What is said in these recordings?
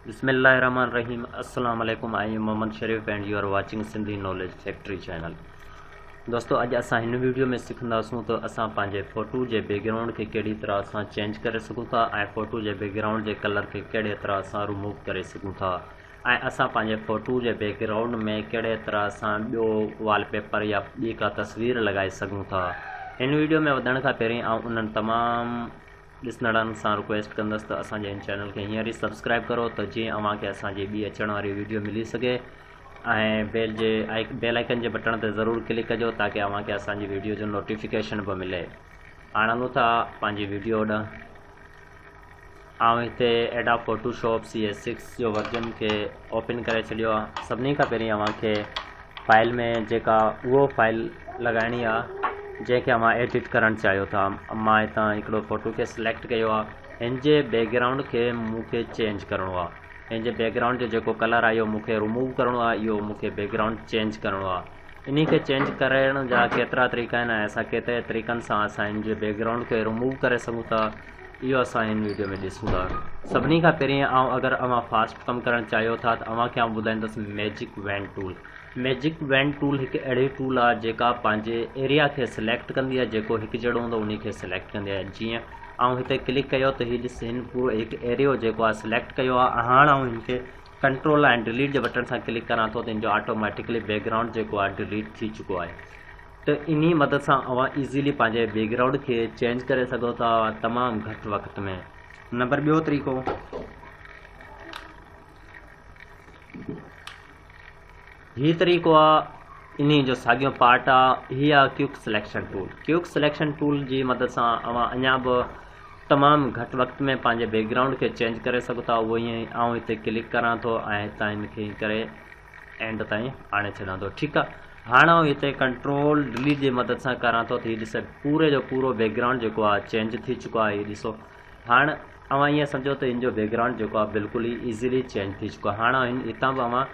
بسم الله الرحمٰن الرحيم السلام عليڪم I am Muhammad Sharif and you are watching Sindhi knowledge factory channel دوستو اڄ اسان هن ويڊيو ۾ سکنداسون ته اسان پنهنجي فوٽو جي بيڪ گرائونڊ کي ڪهڙي طرح سان چينج ڪري سگهون ٿا ۽ فوٽو جي بيڪ گرائونڊ جي ڪلر کي ڪهڙي طرح سان رموو ڪري سگهون ٿا ۽ اسان پنهنجي فوٽو جي بيڪ گرائونڊ ۾ ڪهڙي طرح سان ٻيو وال پيپر يا ٻي ڪا تصوير لڳائي سگهون ٿا هن ويڊيو ۾ وڌڻ کان پهرين آئون انهن تمام ڏسندڙن سان رڪويسٽ ڪندس ته اسان جي هن چينل کي هينئر ئي سبسڪرائب ڪرو ته جيئن اوهان کي اسان جي ٻي اچڻ واري ويڊيو ملي سگهي ۽ بيل جي بيل آئڪن جي بٽڻ تي ضرور ڪلڪ ڪجو تاڪي اوهان کي اسان جي ويڊيو جو نوٽيفڪيشن به ملي هاڻ هلون ٿا پنهنجي ويڊيو ڏانهن آئون هتي ايڊا Photoshop C S six جو ورجن کي اوپن ڪري ڇڏيو آ سڀني کان پهرين اوهان کي فائل ۾ جيڪا اهو فائل لڳائڻي آ جنهن کي اوهان ايڊٽ ڪرڻ چاهيو ٿا مان هتان هڪڙو فوٽو کي سليڪٽ ڪيو آ هن جي بيڪگرائونڊ کي مون کي چينج ڪرڻو آ هن جي بيڪگرائونڊ جو جيڪو ڪلر آ اهو مون کي رموو ڪرڻو آ اهو مون کي بيڪگرائونڊ چينج ڪرڻو آ انهي کي چينج ڪرڻ جا ڪيترا طريقا آهن ۽ اسان ڪيترن طريقن سان اسان هن جي بيڪگرائونڊ کي رموو ڪري سگهون ٿا اهو اسان هن ويڊيو ۾ ڏسون ٿا سڀني کان پهرين آئون اگر اوهان فاسٽ ڪم ڪرڻ چاهيو ٿا ته اوهان کي آئون ٻڌائيندس magic wand tool magic wand tool هڪ اهڙي ٽول آهي جيڪا پنهنجي ايريا کي سليڪٽ ڪندي آهي جيڪو هڪ جهڙو هوندو انهي کي سليڪٽ ڪندي آهي جيئن آئون هتي ڪلڪ ڪيو ته هي ڏس هن پورو هڪ ايريو جيڪو آهي سليڪٽ ڪيو آهي هاڻ آئون هن کي ڪنٽرول ۽ ڊليٽ جي بٽڻ سان ڪلڪ ڪران ٿو ته ان جو آٽوميٽڪلي بيڪ گرائونڊ جيڪو آهي ڊليٽ ٿي چڪو آهي ته انهي مدد سان اوهان ايزيلي پنهنجي بيڪ گرائونڊ کي چينج ڪري سگهو ٿا تمام گهٽ وقت ۾ نمبر ٻيو طريقو هي طريقو آ انهي جو ساڳيو پارٽ آ هي آ quick selection tool quick selection tool جي مدد سان اوهان اڃا به تمام گهٽ وقت ۾ پنهنجي بيڪ گرائونڊ کي چينج ڪري سگهو ٿا اهو ائين آئون هتي ڪلڪ ڪران ٿو ۽ هتان هن کي ائين ڪري اينڊ تائين آڻي ڇڏان ٿو ٺيڪ آ هاڻ آئون هتي ڪنٽرول ڊليٽ جي مدد سان ڪران ٿو ته هي ڏسي پوري جو پورو بيڪ گرائونڊ جيڪو آ چينج ٿي چڪو آ هي ڏسو هاڻ اوهان ائين سمجهو ته هن جو بيڪ گرائونڊ جيڪو آ بلڪل ئي ايزيلي چينج ٿي چڪو آ هاڻ هتان به اوهان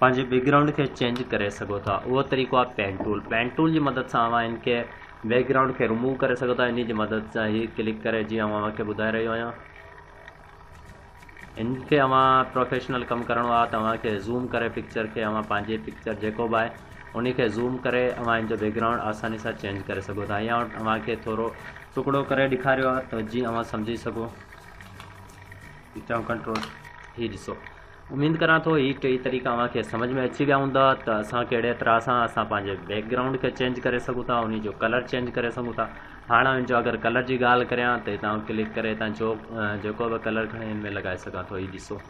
پنهنجي بيڪ گرائونڊ کي چينج ڪري سگهو ٿا اهو طريقو آهي پين ٽول پين ٽول جي مدد سان اوهان هن کي بيڪ گرائونڊ کي رموو ڪري سگهو ٿا انهي جي مدد سان هي ڪلڪ ڪري جيئن آئون اوهان کي ٻڌائي رهيو آهيان ان کي اوهان پروفيشنل ڪم ڪرڻو آهي ته اوهان کي زوم ڪري پڪچر کي اوهان پنهنجي پڪچر جيڪو به آهي ان کي زوم ڪري اوهان ان جو بيڪ گرائونڊ آساني سان چينج ڪري سگهو ٿا هيئن اوهان کي ٿورو ٽڪڙو ڪري ڏيکاريو آهي ته جيئن اوهان سمجهي سگهو چئون ڪنٽرول هي ڏسو اميد ڪريان ٿو هي ٽئي طريقا اوهان کي سمجھ ۾ اچي ويا هوندا ته اسان ڪهڙي طرح سان اسان پنهنجي بيڪ گرائونڊ کي چينج ڪري سگهون ٿا انهي جو ڪلر چينج ڪري سگهون ٿا هاڻ ان جو اگر ڪلر جي ڳالهه ڪريان ته هتان ڪلڪ ڪري هتان جو جيڪو به ڪلر کڻي ان ۾ لڳائي سگهان ٿو هي ڏسو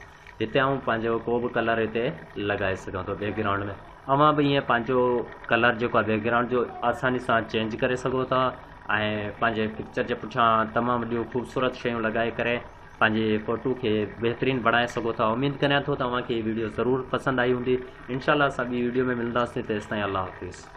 هتي آئون پنهنجو ڪو به ڪلر هتي لڳائي سگهان ٿو بيڪ گرائونڊ ۾ اوهان به ائين پنهنجو ڪلر جيڪو بيڪ گرائونڊ جو آساني سان چينج ڪري سگهو ٿا ۽ پنهنجي پڪچر جي پٺيان تمام وڏيون خوبصورت شيون لڳائي ڪري پنهنجي فوٽو کي بهترين بڻائي سگهو ٿا اميد ڪريان ٿو ته اوهان کي هي ويڊيو ضرور پسند آئي هوندي انشاء الله اسان ٻي ويڊيو ۾ ملنداسين تيستائين الله حافظ.